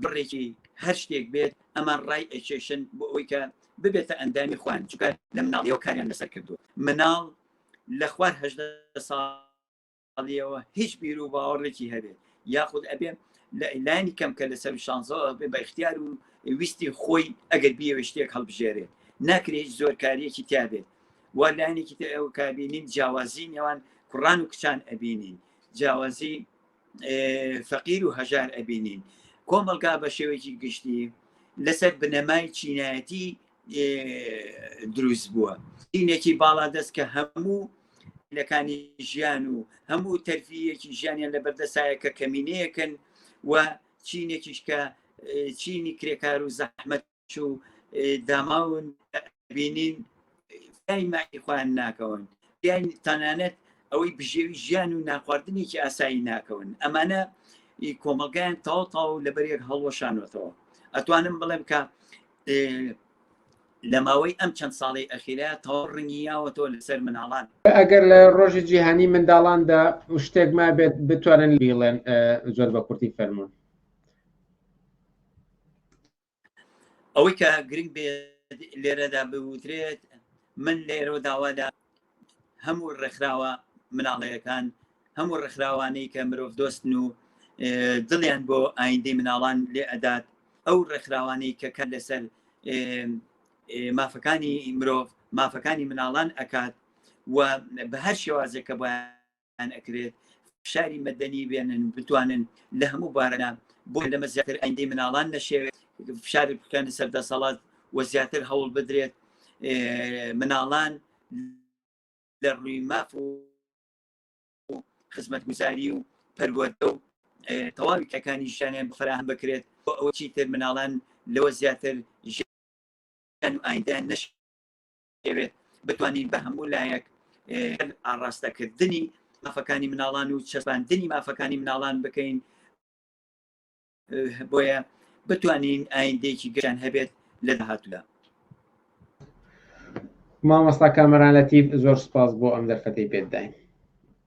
بڕێکی هەر شتێک بێت ئەمان ڕای ئەکێشن بۆ ئەوی کە ببێتە ئەندامی خوان چکە لە مناڵیەوە کاریان لەسەر کردو مناڵ لە خوار هەدە ساڵ ئەڵیەوە هیچ بیر و باوەڕێکی هەبێت یاخود ئەبێ لانی کەم کە لە سەر شانزەوە بێ بە اختیار و ویستی خۆی ئەگەر بیەوە شتێک هەڵبژێرێت ناکرێت هیچ زۆرکاریەکی تیاابێت وا لایەنێکی تر ئەو کابینین جیاوازی نێوان کوڕان و کچان ئەبینین جیاوازی فەقیر و هەژار ئەبینین کۆمەلگا بە شێوەیەکی گشتی لەسەر بنەمای چینایەتی دروست بووە دینێکی باڵا دەست کە هەموو لەکانی ژیان و هەموو تەرفیەکی ژیانیان لە بەردەسایە کە کەمینەیەکن و چینێکیش کە چینی کرێکار و زەحمەت و داماون بینین ماکی خۆیان ناکەون یان تەنانەت ئەوەی بژێوی ژیان و ناخواردنێکی ئاسایی ناکەون ئەمانە کۆمەلگایان تاوتاو لەبەرێک هەڵوەشانەوەتەوە ئەتوانم بڵێم کە لە ماوەی ئەم چەند ساڵی ئەخیرە تەواو ڕنگی یاوەتەوە لەسەر مناڵان ئەگەر لە ڕۆژی جیهانی منداڵاندا شتێک ما بێت بتوانن بیڵێن زۆر بە کورتی فەرمونون ئەوەی کە گرنگ بێت لێرەدا بوترێت من لێرە داوادا هەموو ڕێکخراوە مناڵەیەکان هەموو ڕێکخراوانەی کە مرۆڤ دۆستن و دڵیان بۆ ئایندەی مناڵان لێ ئەدات ئەو ڕێکخراوانەی کە کە لەسەر مافەکانی مرۆڤ مافەکانی مناڵان ئەکات و بە هەر شێوازێک کە بۆیان پێیان ئەکرێت فشاری مەدەنی بێنن و بتوانن لە هەموو بارەدا بۆ لەمە زیاتر ئەندی مناڵان نەشێوێت فشاری بکەنە سەر دەسەڵات و زیاتر هەوڵ بدرێت مناڵان لە ڕووی ماف و خزمەت گوزاری و پەروەردە و تەواوی کەکانی ژیانیان بفراهان بکرێت بۆ ئەوە چی تر مناڵان لەوە زیاتر ئایندە نش دەیەوێت بتوانین بە هەموو لایەک ئاڕاستەکردنی مافەکانی مناڵان و چەسپاندنی مافەکانی مناڵان بکەین بۆیە بتوانین ئایندێکی گەیان هەبێت لە داهاتوودا مامۆستا کامەرانەتیب زۆر سپاس بۆ ئەم دەرفەتی پێداین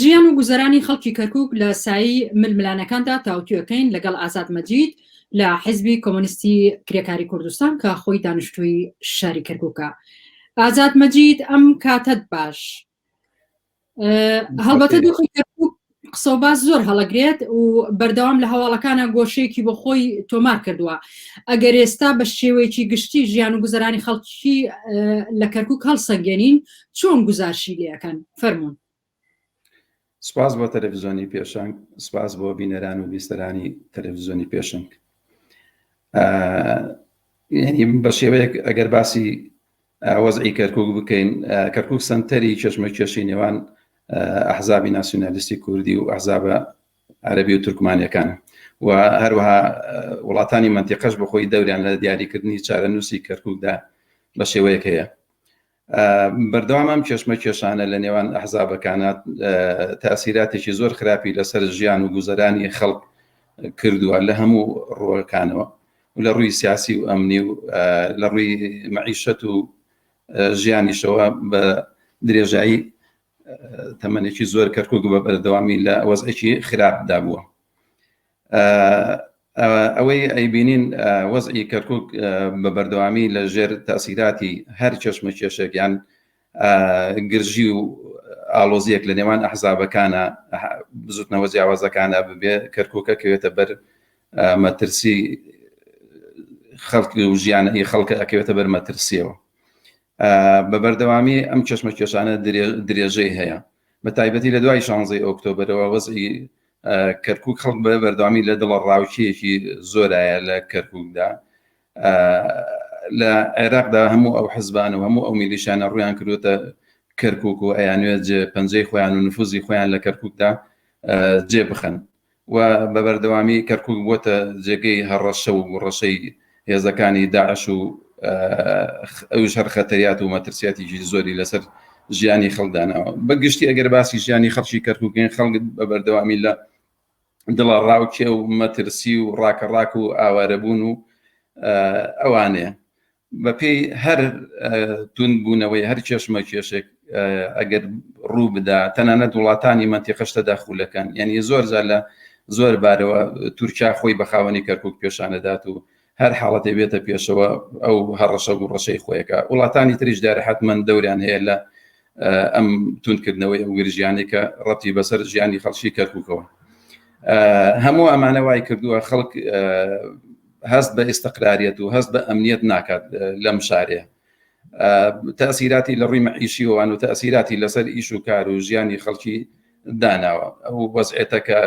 ژیان و گوزەرانی خەڵکی کەرکک لە سایی ململانەکاندا تاوتوێکەین لەگەڵ ئازاد مەجید لە حزبی کۆمۆنیستی کرێکاری کوردستان کە خۆی دانیشتووی شاری کەرککە ئازاد مەجید ئەم کاتەت باش هەڵبەتە دۆخی کەرکک قسە باز زۆر هەڵەگرێت و بەردەوام لە هەواڵەکانە گۆشەیەکی بۆ خۆی تۆمار کردووە ئەگەر ئێستا بە شێوەیەکی گشتی ژیان و گوزەرانی خەڵکی لە کەرکک هەڵسەنگێنین چۆن گوزارشی لێ ئەکەن فەرموون. سپاس بۆ تەلەڤزیۆنی پێشەنگ سپاس بۆ بینەران و بیستەرانی تەلەڤزیۆنی پێشنگ یعنی بە شێوەیەک ئەگەر باسی وەزعی کەرکک بکەین کەرکک سنتەری چشمە کێشی نێوان ئەحزابی ناسیۆنالیستی کوردی و ئەحزابە عەربی و تورکمانەکان و هەروەها وڵاتانی منتیقەش بخۆی دەوریان لە دیاریکردنی چارەنووسی کەرککدا بە شێوەیەک هەیە بەردەوام ئەم کێشمەکێشانە لە نێوان ئەحزابەکانە تاسیراتێکی زۆر خراپی لەسەر ژیان و گوزەرانی خەڵک کردووە لە هەموو ڕۆەکانەوە لە ڕووی سیاسی و ئەمنی و لە ڕووی مەعیشەت و ژیانیشەوە بە درێژایی تەمەێکی زۆر کەرکک بە بەردەوامی لە وەزێکی خراپدا بووە ئەوەی ئەیبینین وەزعی کەرکک بە بەردەوامی لە ژێر تاسیراتی هەر چەشمە کێشێکیان گرژی و ئالۆزیەک لە نێوان ئەحزابەکانە بزوتنەوە جیاوازەکانە ببێ کەرککە کەوێتە بەر مەترسی خەڵکی و ژیانەی خەڵکە ئەکەوێتە بەر مەترسیەوە بە بەردەوامی ئەم چشمە کێشانە درێژەی هەیە بە تایبەتی لە دوای شانزەی ئۆکتۆبرەوە وەزی کەرکوک خەڵک بە بەردەوامی لە دڵە ڕاوچیەکی زۆرایە لە کەرکوکدا لە عێراقدا هەموو ئەو حزبان و هەموو ئەو میلیشانە ڕویان کردوتە کەرکک و ئەیانوێت جێ پەنجەی خۆیان و نفوزی خۆیان لە کەرککدا جێ بخەن و بە بەردەوامی کەرکک بووە جێگەی هەڕەشە و ڕەشەی هێزەکانی داعش و ئەوش هەر خەتەریات و مەترسیاتیی زۆری لەسەر ژیانی خەڵدانەوە بە گشتی ئەگەر باسی ژیانی خەڵکی کەرککەین خەڵک بە بەردەوامی لە دڵە ڕاوکێ و مەترسی و ڕاکە ڕاک و ئاوارەبوون و ئەوانێ بەپێی هەر تون بوونەوەی هەر کێشمە کێشێک ئەگەر ڕوو بدا تەنانەت وڵاتانی مەنتیقەش تەداخولەکەن یعنی زۆر زار لە زۆر بارەوە تورکیا خۆی بە خاوەنی کەرکک پێشانەدات و هەر حاڵەتێ بێتە پێشەوە ئەو هەڕەشە و ڕەشەی خۆیەکە وڵاتانی تریش دارە حتممەند دەوریان هەیە لە ئەم تونکردنەوەی ئەو گرژیانەی کە ڕەتی بەسەر ژیانی خەڵکی کەرککەوە هەموو ئەمانە وای کردووە خەڵک هەست بە ئێستقراریەت و هەست بە ئەمنیەت ناکات لەم شارەیە تاسیراتی لە ڕووی مەعیشیوان و تاسیراتی لەسەر ئیش و کار و ژیانی خەڵکی داناوە ئەو وەزعێتە کە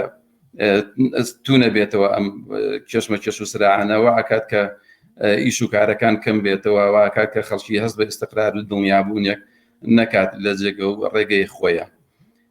تونە بێتەوە ئەم کێشمە کێش و سراعانەوە ئاکات کە ئیش و کارەکان کەم بێتەوە واکات کە خەڵکی هەست بە ئستقرار و دڵنیابوونێک نەکات لە جێگە و ڕێگەی خۆیان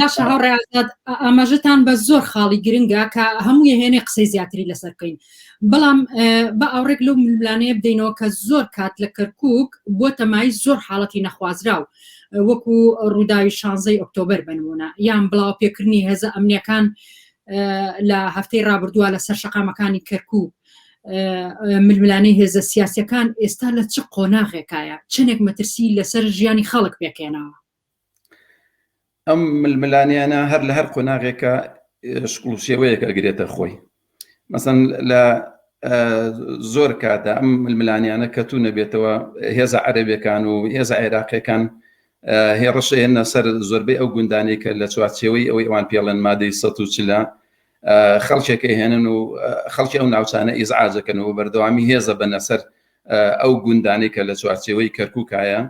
باشە هاوڕێ ئازاد ئاماژەتان بە زۆر خاڵی گرنگە کە هەموو هێنێ قسەی زیاتری لەسەر بکەین بەڵام بە ئاوڕێک لەو ململانەیە بدەینەوە کە زۆر کات لە کەرکک بۆ تەمای زۆر حاڵەتی نەخوازراو وەکو ڕووداوی شانزەی ئۆکتۆبر بنمونە یان بڵاو پێکردنی هێزە ئەمنیەکان لە هەفتەی ڕابردووە لە سەر شقامەکانی کەرکک ململانەی هێزە سیاسەکان ئێستا لە چ قۆناغێکایە چنێک مەترسی لەسەر ژیانی خەڵک پێکێنەوە ئەم ململانێیانە هەر لە هەر قۆناغێکە شکڵ و شێوەیەک ئەگرێتە خۆی مەسەن لە زۆر کاتە ئەم ململانیانە کە تو نەبێتەوە هێزە عەرەبەکان و هێزە عێراقیەکان هێڕشێنە سەر زۆربەی ئەو گوندانی کە لە چوارچێوەی ئەوەی ئەوان پێڵەن مادەی سە و چلە خەڵکێکی هێنن و خەڵکی ئەو ناوچانە ئیزعاجەکەن و بەردەوامی هێزە بەنەسەر ئەو گوندانی کە لە چوارچێوەی کەرککایە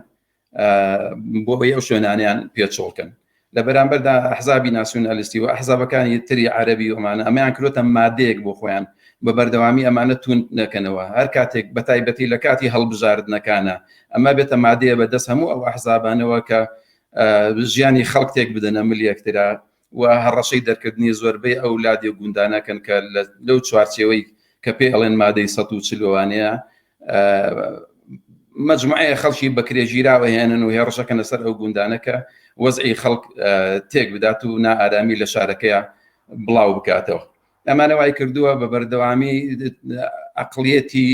بۆ ئەوەی ئەو شوێنانیان پێچۆڵکەن لە بەرامبەردا ئەحزابی ناسیونالیستی و ئەحزابەکانی تری عەربی ومانە ئەمەیان کرۆتە مادەیەک بۆ خۆیان بە بەردەوامی ئەمانە تون نەکەنەوە هەر کاتێک بە تایبەتی لە کاتی هەڵبژاردنەکانە ئەمە بێتە مادەیە بە دەست هەموو ئەو ئەحزابانەوە کە ژیانی خەڵک تێک بدەنە ملیەکترا و هەڕەشەی دەرکردنی زۆربەی ئەو لادێ و گوندانەکەن کە لەو چوارچێوەی کە پێی ئەڵێن مادەی سەد و چل وانەیە مجموعەیە خەڵکی بەکرێژیراوە هێنن و هێڕشەکەنە سەر ئەو گوندانەکە وەزعی خەڵک تێک بدات و نائارامی لە شارەکەیە بڵاو بکاتەوە ئەمانە وای کردووە بە بەردەوامی ئەقلیەتی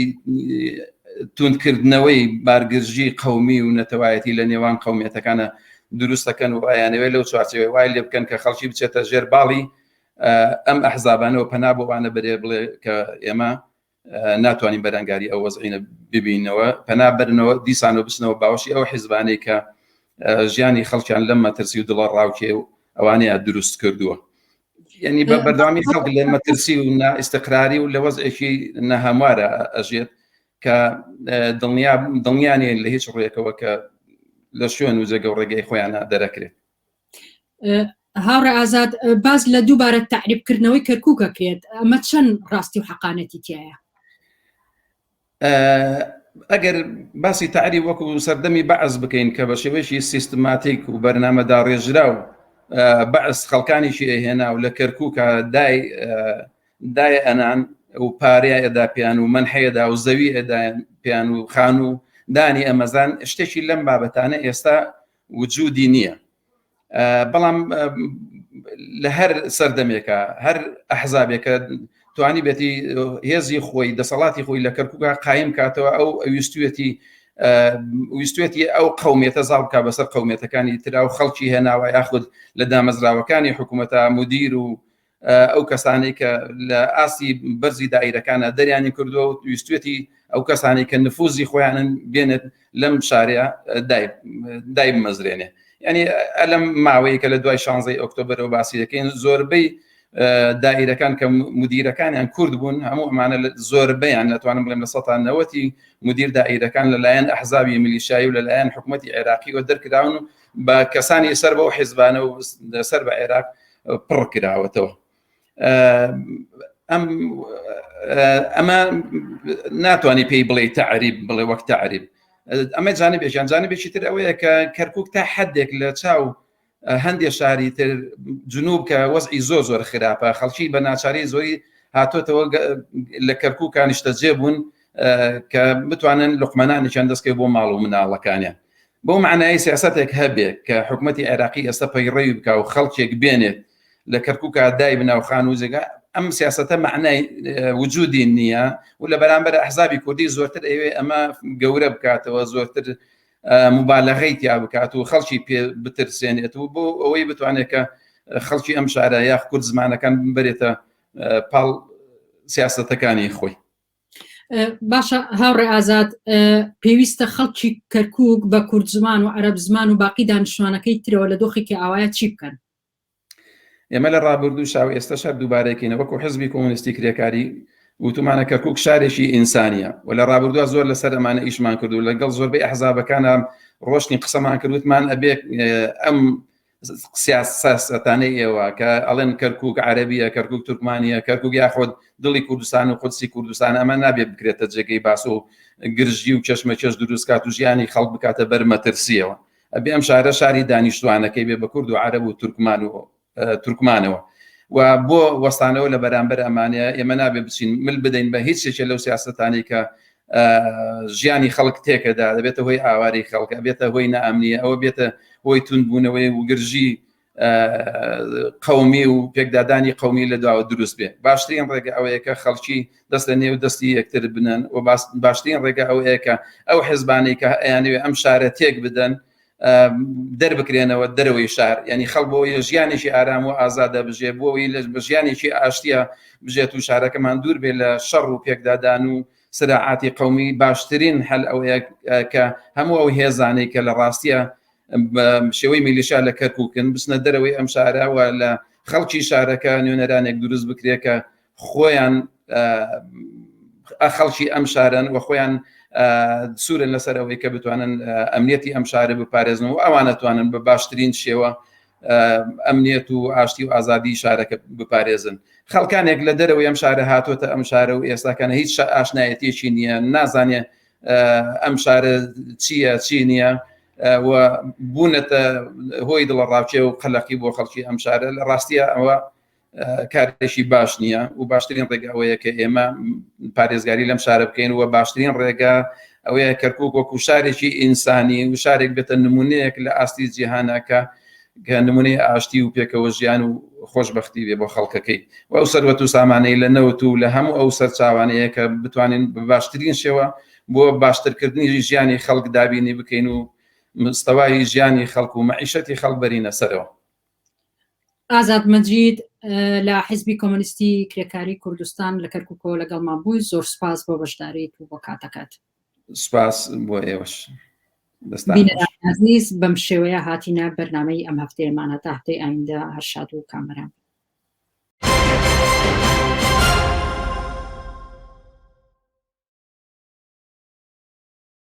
توندکردنەوەی بارگرژی قومی و نەتەوایەتی لە نێوان قومیەتەکانە دروستەکەن و ئایانەوە لەو چوارچەوە وای لێ بکەن کە خەڵکی بچێتە ژێر باڵی ئەم ئەحزابانەوە پەنا بۆوانە بەرێ بڵێ کە ئێمە ناتوانین بەرەنگاری ئەو وەزعینە ببینەوە پەنا بەرنەوە دیسانەوە بچنەوە باوەشی ئەو حیزبانەی کە ژیانی خەڵکیان لەم مەترسی و دڵە ڕاوکێ و ئەوانەیە دروست کردووە یعنی بە بەردامی خەڵک لە مەترسی و نائستقراری و لە وەزێکی نەهاموارە ئەژێت کە دڵنیا دڵنیانێن لە هیچ ڕوێکەوە کە لە شوێن و جێگە و ڕێگەی خۆیانە دەرەکرێت هاوڕێ ئازاد باز لە دووبارە تعریبکردنەوەی کەرکووکە کرێت ئەمە چەند ڕاستی و حەقانەتی تایە ئەگەر باسی تعری وەکو سەردەمی بەعز بکەین کە بە شێوەیەکی سیستماتیک و بەرنامەدا ڕێژرا و بەعس خەڵکانیشی ئەهێنا و لە کەرکووکە دای دای ئەنان و پارەیە ئەدا پێیان و من حەیەدا و زەوی ئەدا پێیان و خان و دانی ئەمەزان شتێکی لەم بابەتانە ئێستا وجودی نییە بەڵام لە هەر سەردەمێکە هەر ئەحزابێکە توانی بێتی هێزی خۆی دەسەڵاتی خۆی لە کەرکوکە قایم کاتەوە ئەو ئەویستوێتی ویستێتی ئەو قومێتە زاڵکە بەسەر قومێتەکانی تررا و خەڵکی هێناوە یاخود لە دامەزراوەکانی حکوومەتە مدیر و ئەو کەسانەی کە لە ئاستی بەرزی دایرەکانە دەریانی کردووە و ویستێتی ئەو کەسانەی کە نفوزی خۆیانن بێنێت لەم شارەیە دای بمەزرێنێ ینی ئەلم ماوەیە کە لە دوای شانزەی ئۆکتۆبرەوە باسی دەکەین زۆربەی دایرەکان کە مدیرەکانیان کورد بوون هەموو ئەمانە زۆربیان ناتوانم بڵێم لە سەتان نەوەتی مدیر دایرەکان لەلایەن ئەحزابی ملیشایی و لەلایەن حکوومەتتی عێراقیەوە دەرکراون و بە کەسانی سەر بەو حیزبانە و سەر بە عێراق پڕ کراوەتەوە ئەم ئەمە ناتوانانی پێی بڵێ تەعریب بڵێ وەک تەعریب ئەمە جانە بێژیان جانە بێکی تر ئەوەیە کە کەرکک تا حدێک لە چاو هەندێک شاری تر جنوب کە وەزعی زۆر زۆر خراپە خەڵکی بە ناچاری زۆری هاتۆتەوە لە کەرکک کانیشتە جێ بوون کە بتوانن لقمەانێکیان دەستکە بۆ ماڵ و مناڵەکانیان بۆ معنای سیاستێک هەبێ کە حکوومەتتی عێراقی ئێستا پەیڕەوی بکە و خەڵکێک بێنێت لە کەرکک دای بناوخان و جێگا ئەم سیاستە معنای وجودی نییە و لە بەرامبەر ئەحزابی کوردی زۆرتر ئەوێ ئەمە گەورە بکاتەوە زۆرتر مبالغی تیا بکات و خەڵکی پێ بترسێنێت و بۆ ئەوەی بتوانێت کە خەڵکی ئەم شارە یاخ کورد زمانەکان ببرێتە پاڵ سیاستەکانی خۆی باشە هاوڕێ ئازاد پێویستە خەڵکی کەرکک بە کورد زمان و عەرب زمان و باقی دانیشتوانەکەی ترەوە لە دۆخێکی ئاوایە چی بکەن ئێمە لە ڕابردوو شاو ئێستا شار دووبارەکەینە وەکو حزبی کۆمونستی کرێکاری وتومانە کەرکک شارێکی ئینسانیە و لە ڕابردووە زۆر لەسەر ئەمانە ئیشمان کردو لەگەڵ زۆربەی ئەحزابەکانە ڕۆشتنی قسەمان کردوتمان ئەبێ ئەم سیاسەتانەی ئێوە کە ئەڵێن کەرکک عەربیە کەرکک تورکمانە کەرکک یاخود دڵی کوردستان و قودسی کوردستان ئەمە نابێت بکرێتە جێگەی باس و گرژی و چشمە چێش دروستکات و ژیانی خەڵک بکاتە بەر مەترسیەوە ئەبێ ئەم شارە شاری دانیشتوانەکەی بێ بە کورد و عەرب و تورکمان و تورکمانەوە و بۆ وەستانەوە لە بەرامبەر ئەمانەیە ئێمە نابێ بچین مل بدەین بە هیچ شێکە لەو سیاستانەی کە ژیانی خەڵک تێکەدا دەبێتە هۆی ئاواری خەڵکە بێتە هۆی نامنیە ئەوە بێتە هۆی تونبوونەوەی وگرژی قومی و پێکدادانی قومی لە داوە دروست بێ باشترین ڕێگە ئەوەیەکە خەڵکی دەست لە نێو دەستی یەکتر بنن و باشترین ڕێگە ئەوەیەکە ئەو حزبانەی کە ئەیانوێ ئەم شارە تێک بدەن دەربکرێنەوە دەرەوەی شار ینی خەڵ بۆ ژیانێکی ئارام و ئازادە بژێ بۆەوەی لە بژیانێکی ئاشتە بژێت و شارەکەمان دوور بێ لە شەڕ و پێکدادان و سراعاتی قومی باشترین هەل ئەو کە هەموو ئەو هێزانەی کە لە ڕاستە شێوەی میلیشا لە کەرککن بچنە دەرەوەی ئەم شاراوە لە خەڵکی شارەکە نوێنەرانێک دروست بکرێکە خۆیان خەڵکی ئەم شارن و خۆیان سوورن لەسەر ئەوەی کە بتوانن ئەمنیەتی ئەم شارە بپارێزن و ئەوانەتوانن بە باشترین شێوە ئەمنیەت و ئاشتی و ئازادی شارەکە بپارێزن خەڵکانێک لە دەرەوەی ئەم شارە هاتوۆتە ئەم شارە و ئێستاکەە هیچ ئاشنایەتێکی نییە نازانێ ئەم شارە چییە چی نییە و بوونەتە هۆی دڵە ڕاوچێ و قەلەقی بۆ خەڵکی ئەم شارە لە ڕاستیە ئەوە کارێکی باش نییە و باشترین ڕێگە ئەوەیە کە ئێمە پارێزگاری لەم شارە بکەین و باشترین ڕێگە ئەوەیە کەرکک وەکو شارێکی ئینسانی و شارێک بێتە نمونەیەک لە ئاستی جیهانەکە کە نمونەی ئاشتی و پێکەوە ژیان و خۆشببختی بێ بۆ خەڵکەکەی و ئەو سەروەت و سامانەی لە نەوت و لە هەموو ئەو سەرچاوانەیە کە بتوانین بە باشترین شێوە بۆ باشترکردنی ژیانی خەڵک دابینی بکەین و مستەوای ژیانی خەڵک و مەعیشەتی خەڵبەرینە سەرەوە ئازاد مەجید لە حیزبی کۆمەنیستی کرێکاری کوردستان لە کەرککەوە لەگەڵمان بووی زۆر سپاس بۆ بەشداریت و بۆ کاتەکەت سپاس بۆ ئێوەش عزیز بەم شێوەیە هاتینە بەرنمەی ئەم هەفتەیەمان هەتا هەفتەی ئایندە هەرشاد و کامەران